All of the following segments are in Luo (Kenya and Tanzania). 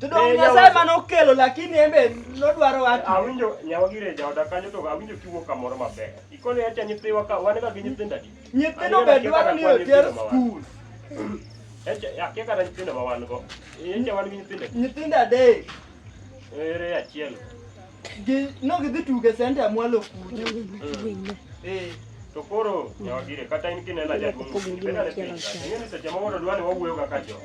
To dong Eh, Nyasaye yawa- ma nokelo lakini en be nodwaro watu. Awinjo nyawa gire e jaoda kanyo to awinjo kiwuo kamoro maber. Ikone acha nyithiwa ka wan ga gi nyithindo adi. Nyithindo be dwaro ni oter skul. Echa akia kata nyithindo ma wan go. Echa wan gi nyithindo adi. Nyithindo adek. Ere achiel. No gidhi tuge senta mwalo kuno. Eh. To koro nyawagire kata in kinena jaduong' bedane piny ing'e ni seche moko to dwani wawuoyo kaka jo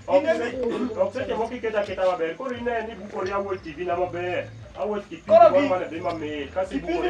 ok seche moko iketa keta maber koro ine ni bukori awuoch tv na maber awuoch kipindi moro mane dhi mamit kasi bukori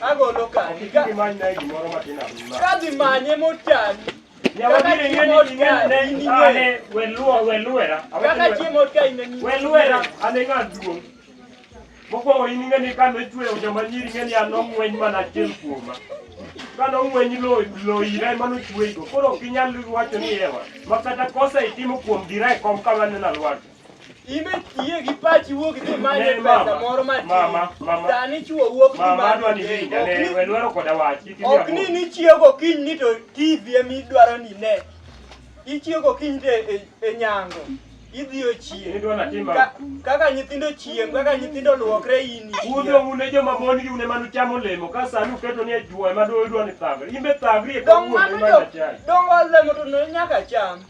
Agolo kadi. Ka imany na gimoro matin ahinya. Ka dhi manye mochani. Kaka chiemo otkani in ing'e. Weluo weluera. Kaka chiemo otkani in ing'e. Weluera ane ng'a duong'. Mokwongo in ing'e ni kane ochweyo joma nyiri ing'e ni an ong'weny mana achiel kuoma. Kane ong'weny lo lo ira ema nochweygo. Koro ok inyal wacho ni ewa. Ma kata kosa itimo kuom dira e kom kama nena lwaki. Ime tiye gi pachi wuok dhi manye Ne, pesa mama, moro matin. mama, mama. Sani chuo wuok dhi Mama adwa ni manye winja ne, we lwero koda wach. Kik imiya Ok ni bur. nichiew gokinyi ni to TV ema idwaro ni ne. Ichiew gokinyi to e, e nyango. Idhi ochiew. Idwa natim Ka, ang'o? kaka nyithindo chiem, kaka nyithindo luokre in Udho ichiew. une joma mon gi une manu chamo olemo ka sani uketo ni ajuoyo ma do idwa ni thagri. Imbe thagri e Dong kawuono mano ema jo, nachai. dong olemo to ne nyaka cham.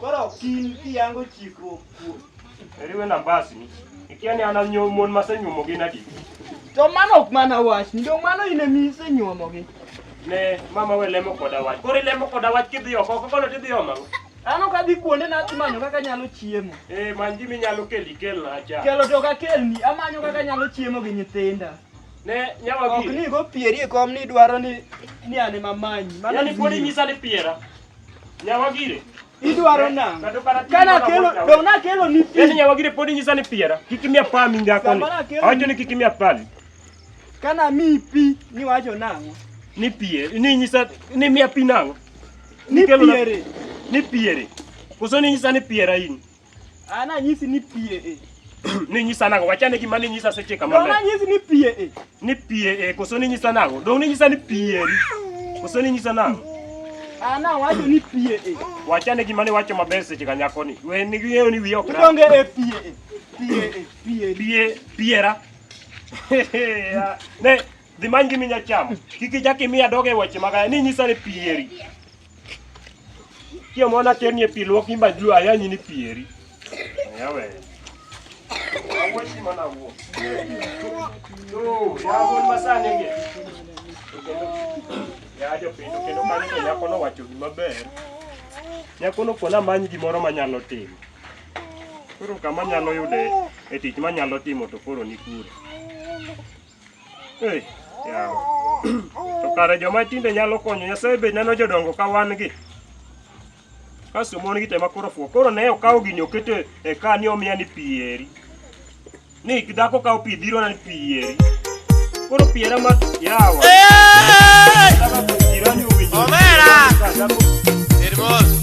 Koro kin kiyango chikruok kuom. Eriwe na basi ni. Ikia ni ana nyuom mon masenyuomo gi nadi. To mano ok mana wach, ndo mano ine mise nyuomo gi. Ne mama we lemo koda wach. Koro ilemo koda wach kidhi oko, koko no tidhi oma. Ano ka dhi kuonde na manyo kaka nyalo chiemo. Eh, man gimi nyalo keli kel na acha. Kelo to ka kelni, amanyo kaka nyalo chiemo gi nyithinda. Ne nyawa gi. Ok ni go pieri e kom ni dwaro ni ni ane mamanyi. Mano yani pod inyisa ni piera. Nyawagire. Idwaro eh, nang'. Kana kelo dong na kelo ni pi. Yaani nyawagire podi nyisa ni piera. Kik imiya pami ngako ni. Awacho ni kik imiya pami. Kana mi pi ni wacho nang'o? Ni pie, ni nyisa ni miya pi nang'o? Ni piere. Ni piere. Koso ni nyisa ni piera in. An anyisi ni pie e. Ni nyisa nago, wachane gima ni nyisa seche kama. Dong' anyisi ni pie e. Ni pie e, koso ni nyisa nago. Dong' ni nyisa ni pie eri. Koso ni nyisa nago. An awacho ni pie e. Wachane gima ni wacho maber seche ka nyako ni. We ni ng'eyo ni wiye ok ra. Idonge e pie e. Pie e. Pie e. Pie, piera. Ya, Ne, dhi many gimi nyachamo. Kik ichak imiya doge weche magaya. Ni nyisa ni pieri. Kia mwana kemi e pilo ki ba jua ya nyini pieri. Ya we. Awo si mana wo. No, ya wo masane nge. Ya jo pino kendo mani to nyako no wacho gima ber. Nyako no kona manyi gimoro manyalo timo. Koro kama nyalo yude e tich manyalo timo to koro ni kure. Hey, yawa. To kare joma tinde nyalo konyo Nyasaye be neno jodongo ka wan gi. Kasto mon gi tema koro fuo. Koro ne okawo gini oketo e ka ni omiya ni pi eri. Ni dhako kawo pi dhiro na ni pi eri. Koro pi era ma yawa. Dhako pi dhiro ni owinjo. Omera! Dhako Hermoso.